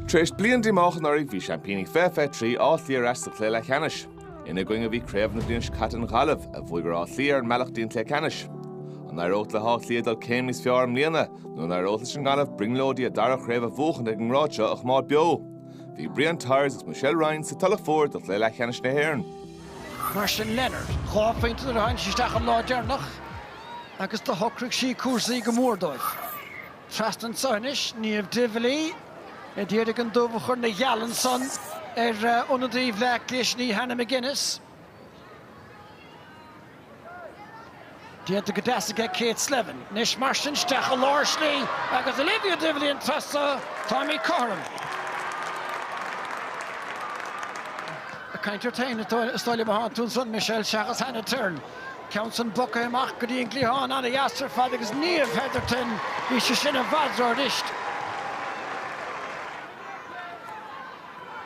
Tar éis bliain díomách anuraidh, bhí seaimpíní 2023, Áth Cliath ar ais sa chluiche leathcheannais. Ina gcoinne a bhí craobhaigh na bliana seo caite an Ghaillimh, a bhuaigh ar Áth Cliath ar an mbealach go dtí an cluiche ceannais. An éireoidh le hÁth Cliath dul céim níos fearr i mbliana nó an éireoidh leis an nGaillimh brionglóidí a dara craobh a bhuachan ag an ngrád seo a choimeád beo? Bhí Brian Tyers agus Michelle Ryan sa Tulach Mhór do chluiche leathcheannais na hÉireann. Mar sin Leonard, dhá phointe nuair a tháinig sí isteach an lá deireanach agus do shocraigh sí cúrsaí go mór dóibh. Trasna anso anois, Niamh Divilly a d'iarraidh an dubh a chur na gheal ansan ar ionadaí Bhleá Cliath sin í Hannah McGinnis. Déanta go deas aige Kate Slevin. Anois mar sin isteach i lár slí agus Olivia Divilly an tráth so, táimid cothrom. Caint ort féin, is dóigh liom a tháinig tú ansan Michelle seachas Hannah Tyrrell. Ceann san bogtha amach go dtí an gcliathán ana dheas ar fad agus Niamh Hetherton bhí sí sin i bhfadra anois.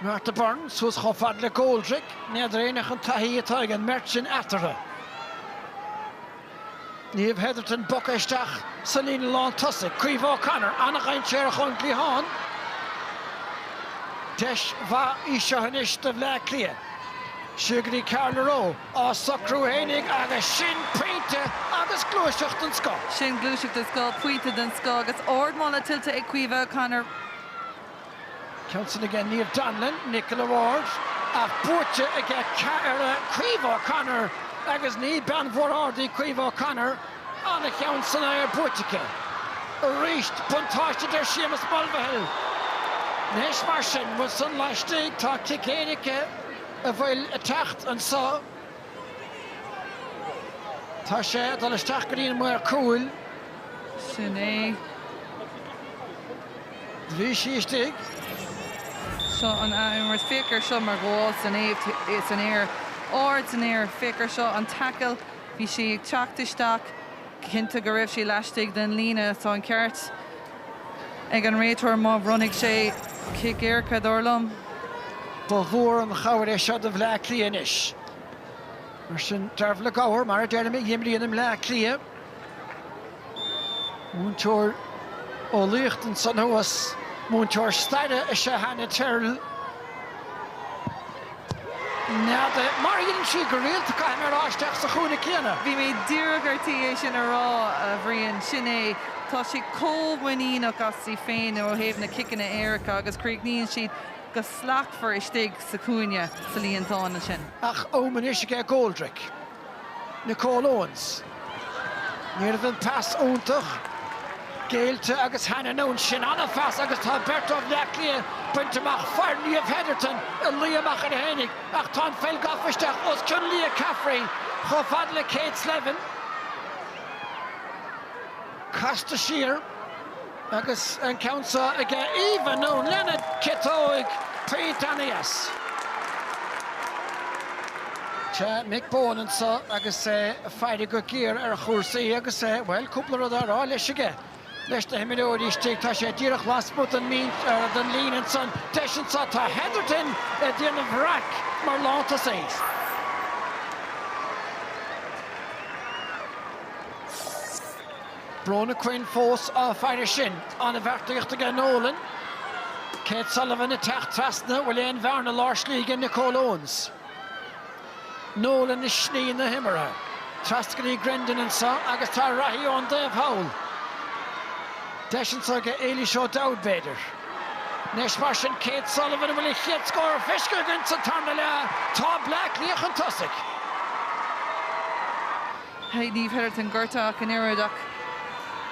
Martha Byrne suas chomh fad le Goldrick, n'fheadar éinne ach an taithí atá ag an mbeirt sin eatarthu. Niamh Hetherton bogtha isteach sa líne lán tosaigh, Caoimhe O'Connor ana dhainséarach ón gcliathán. Deis mhaith í seo anois do Bhleá Cliath. Siar go dtí Carla Rowe. á socrú fhéinig agus sin pointe agus gluaiseacht den scoth. Sin gluaiseacht den scoth, pointe den scoth agus ardmholadh tuillte ag Caoimhe O'Connor. Ceann san aige Niamh Donlon, Nicola Ward, ach buaite aige Caoimhe O'Connor agus ní bean mhór ard í Caoimhe O'Connor. An-cheann san aer buaite aici. Arís buntáiste do Sheamus Mulvihill. Anois mar sin, bhfuil san laistigh tá cic éirice. a bhfuil ag teacht anso, tá sé ag dul isteach go dtí an maor cúil. Sin é. Bhí sí istigh. Seo an athimirt. Féach ar seo mar ghabháil san aer, san aer, ard san aer. Féach ar seo an tackle. Bhí sí ag teacht isteach. Cinnte go raibh sí laistigh den líne. Tá an ceart. ag an réiteoir má bhronnfaidh sé cic éirice, dar liom. Ba mhór an chabhair é seo do Bhleá Cliath anois. Mar sin, Dearbhla Gower, mar a deirim, a imríonn i mBleá Cliath. Múinteoir eolaíochta ansan thuas, múinteoir staire is ea Hannah Tyrrell. nead. Mar a dhéanann sí go rialta, caithfidh mé a rá, isteach sa chúinne céanna. Bhí mé díreach ar tí é sin a rá, a Bhriain. Sin é. Tá sí chomh muiníneach as í féin ó thaobh na ciceanna éirice agus críochnaíonn siad go slachtmhar istigh sa chúinne sa líontán ansin. Ach, Ómain anois aige Goldrick. Nicole Owens. Ní raibh an pas iontach géillte agus Hannah Noone sin an-phas agus tá beirt ó Bhleá Cliath bainte amach, fir Niamh Hetherton a luigh amach ar a haonaigh ach tá an pheil gafa isteach os cionn Leah Caffrey chomh fada le Kate Slevin. Casta siar. Agus an ceann seo aige Eva Noone lena ciotóig taobh aníos. Tá Mick Bohan anseo agus é ag faire go géar ar chúrsaí agus é, bhuel, cúpla rud á rá leis aige. Leis na himreoirí istigh, tá sé díreach lasmuigh den líne ansan. Deis anseo, tá Hetherton ag déanamh raic mar lántosaí. Bronagh Quinn fós á faire sin. An-bheartaíocht aige Nolan. Kate Sullivan ag teacht trasna, bhfuil aon bhearna lár slí aige Nicole Owens? Nolan i slí na himeartha. Trasna go dtí Grendon anseo agus tá reathaí ón dtaobh thall. Deis anseo aige Éilish O'Dowd b'fhéidir. Anois mar sin Kate Sullivan, an bhfuil an chéad scór feicthe againn sa tarna leath? Tá Bleá Cliath chun tosaigh. Hey Niamh Hetherton gortaithe ach an oiread ach.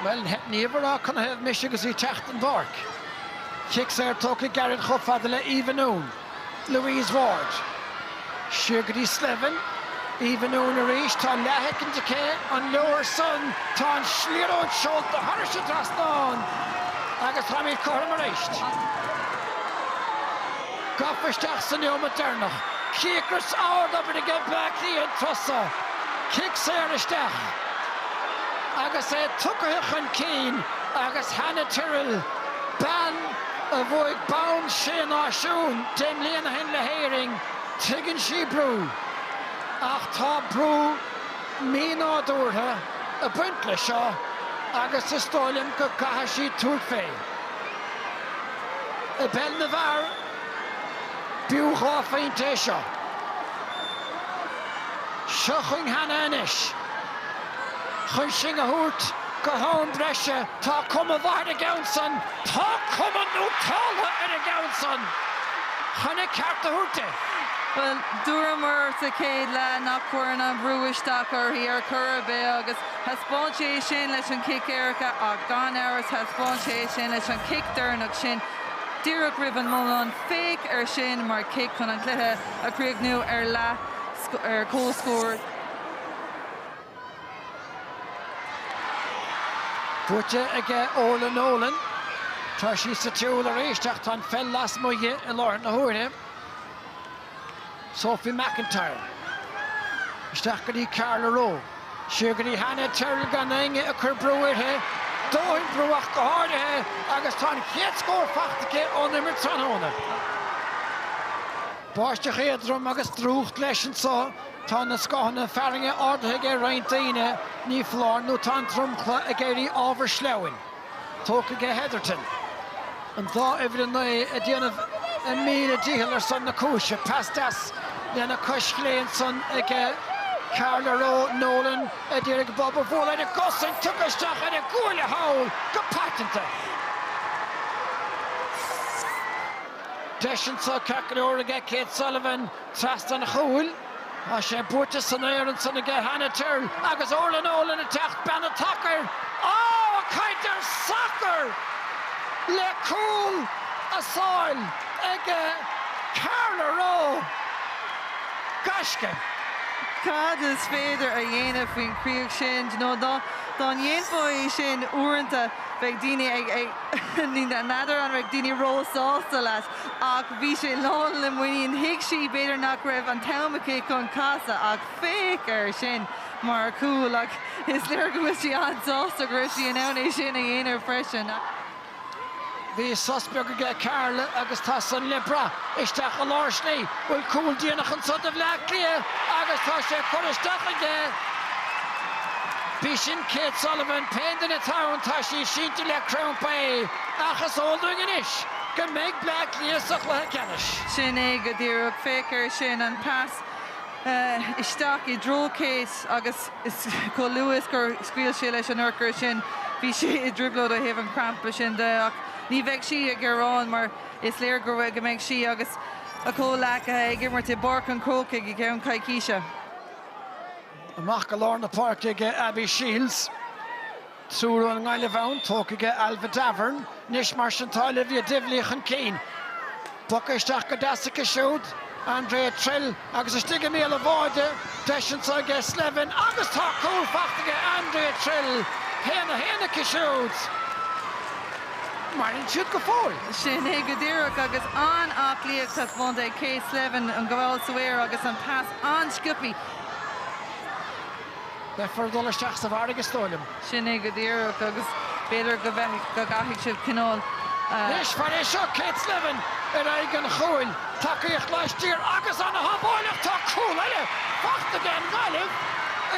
Bhuel, theip Niamh ag rá canathaobh mise agus í ag teacht den bpáirc. Cic saor tógtha gairid chomh fada le Eva Noone. Louise Ward. Siar go dtí Slevin. Eva Noone arís. Tá an leathshoicind aici. An leor san? Tá an liathróid seolta thairis an trasnán agus táimid cothrom arís. Gafa isteach sa neomat deireanach. Cíocras ardobair aige Bleá Cliath an turas so. Cic saor isteach agus é tugtha chun cinn agus Hannah Tyrrell, bean a bhuaigh bonn Sé Náisiún deich mbliana ó shin le hÉirinn, tuigeann sí brú ach tá brú mínádúrtha ag baint le seo agus is dóigh liom go gcaithfidh sí tabhairt fé. I bpeil na bhfear, b'fhiú dhá phointe é seo. Seo chugainn Hannah anois. Chun sinn a thabhairt go ham breise. Tá cuma mhaith ar an gceann san. Tá cuma nótáltha ar an gceann san. Chun an ceart a thabhairt di. Bhuel, dúramar sa chéad leath nach gcuireann an brú isteach uirthi ar chor ar bith agus. Thaispeáin sé é sin leis an chic éirice ach gan amhras thaispeáin sé é sin leis an chic deireanach sin díreach roimh an mbonnán. Féach air sin mar chic chun an cluiche a chríochnú ar comhscór. Buaite aige Orlagh Nolan. Tá sí sa tsiúl arís ach tá an pheil lasmuigh di i láthair na huaire. Sophie McIntyre. Isteach go dtí Carla Rowe. Siar go dtí Hannah Tyrrell gan éinne ag cur brú uirthi. Dóthain brú ach go háirithe agus tá an chéad scór faighte aici ón imirt tráthnóna. Báisteach éadrom agus drúcht leis anseo. Tá na scáthanna fearthainne ardaithe aige roinnt daoine. Ní foláir nó tá an dromchla ag éirí ábhar sleamhain. Tógtha aige Hetherton an dá uimhir a naoi ag déanamh a míle dícheall ar son na cúise. Pas deas lena cois chlé ansan aige, Carla Rowe Nolan a d'iarraidh bob a bhualadh ar a gcosaint, tugtha isteach ar a gcuaille thall go paiteanta. Deis anso ceartlóir aige Kate Sullivan. Trasna an chúil, tá sé buaite san aer ansan aige Hannah Tyrrell agus Orla Nolan ag teacht bean an tsacair. Á! Caint ar sacar! Le cúl a sála aige Carla Rowe. Gaisce. Cad is féidir a dhéanamh faoin chríoch sin? Do you know, dá ndéanfá é sin uaireanta, bheadh daoine ag, n'fheadar an mbeadh daoine ró-sásta leat. Ach bhí sé lán le muinín. Thuig sí, b'fhéidir, nach raibh an t-am aici chun casadh ach féach air sin mar chúl! Ach is léir go bhfuil sí an-sásta go raibh sí in ann é sin a dhéanamh freisin. Bhí sos beag aige Carla agus tá san le brath. Isteach i lár slí bhfuil cúl déanach anseo do Bhleá Cliath agus tá sé curtha isteach aige. B'í sin Kate Sullivan, pé duine atá ann, tá sí sínte le crampa ach is eol dúinn anois go mbeidh Bleá Cliath sa chluiche ceannais. Sin é go díreach. Féach air sin, an pas isteach i dtreo Kate agus chomh luath is gur scaoil sí leis an urchar sin, bhí sí i dtrioblóid ó thaobh an crampa sin de. Ach ní bheidh sí ag gearán mar is léir go mbeidh sí agus a comhghleacaithe ag imirt i bPáirc an Chrócaigh i gceann coicíse. Amach go lár na páirce ag Abby Shiels. Siúl ón nGaillimh ann, tógtha aige Ailbhe Davoren. Anois mar sin tá Olivia Divilly chun cinn. Poctha isteach go deas aici siúd, Andrea Trill, agus istigh i mbéal na báide, deis anseo aige Slevin agus tá cúl faighte aige Andrea Trill. 1, 1 aici siúd. Maireann siad go fóill. Sin é go díreach agus an-aclaíocht taispeánta ag Kate Slevin, an ghabháil san aer agus an pas an-sciobtha. Beifear ag dul isteach sa bhfarraige is dóigh liom. Sin é go díreach agus b'fhéidir go gcaithfidh siad cineál. Cloisfear é seo, Kate Slevin ar aghaidh an chúil, tacaíocht laistiar agus ana shábháil ach tá cúl eile fachta aige an Gaillimh,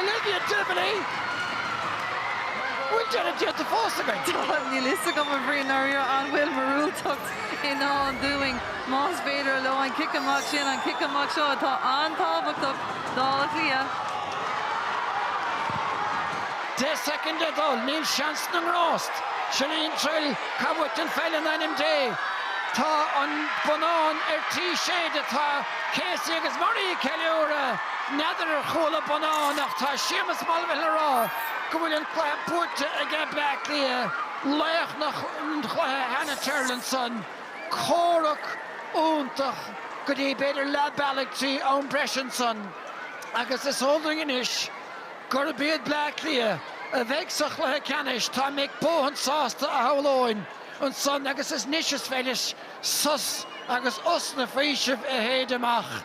Olivia Divilly, bhfuil deireadh déanta fós againn? Tá, níl fhios agam a Bhrian dháiríre an bhfuil míorúilteacht i ndán dúinn más féidir leo an cic amach sin, an cic amach seo atá an-tábhachtach. D'Áth Cliath. Deich soicind le dul, níl seans na ngrást. Chellene Trill, caith uait an pheil in ainm Dé! Tá an bonnán ar tí séideadh, tá Casey agus Murray ag ceiliúradh! N'fheadar ar chuala bonnán ach tá Séamus Mulvihill ag rá go bhfuil an cluiche buaite aige Bleá Cliath, laoch an chluiche Hannah Tyrrell ansan. comhrac iontach go dtí b'fhéidir leath bealaigh trí am breise ansan agus is eol dúinn anois gurb iad Bleá Cliath a bheidh sa chluiche ceannais. Tá Mick Bohan sásta shamhlóinn ansan agus is anois is féidir leis sos agus osna faoisimh a shéid amach.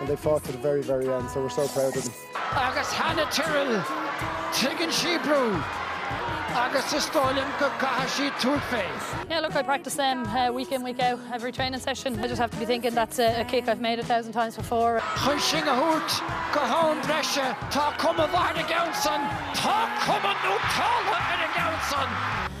And they fought to the very, very end, so we're so proud of them. Agus Hannah Tyrrell, tuigeann sí brú agus is dóigh liom go gcaithfidh sí tabhairt féin. Yeah look I practice them week in week out every training session I just have to be thinking that's a kick I've made a thousand times before. Chun sinn a thabhairt go ham breise tá cuma mhaith ar an gceann san, tá cuma nó tábla ar an gceann san.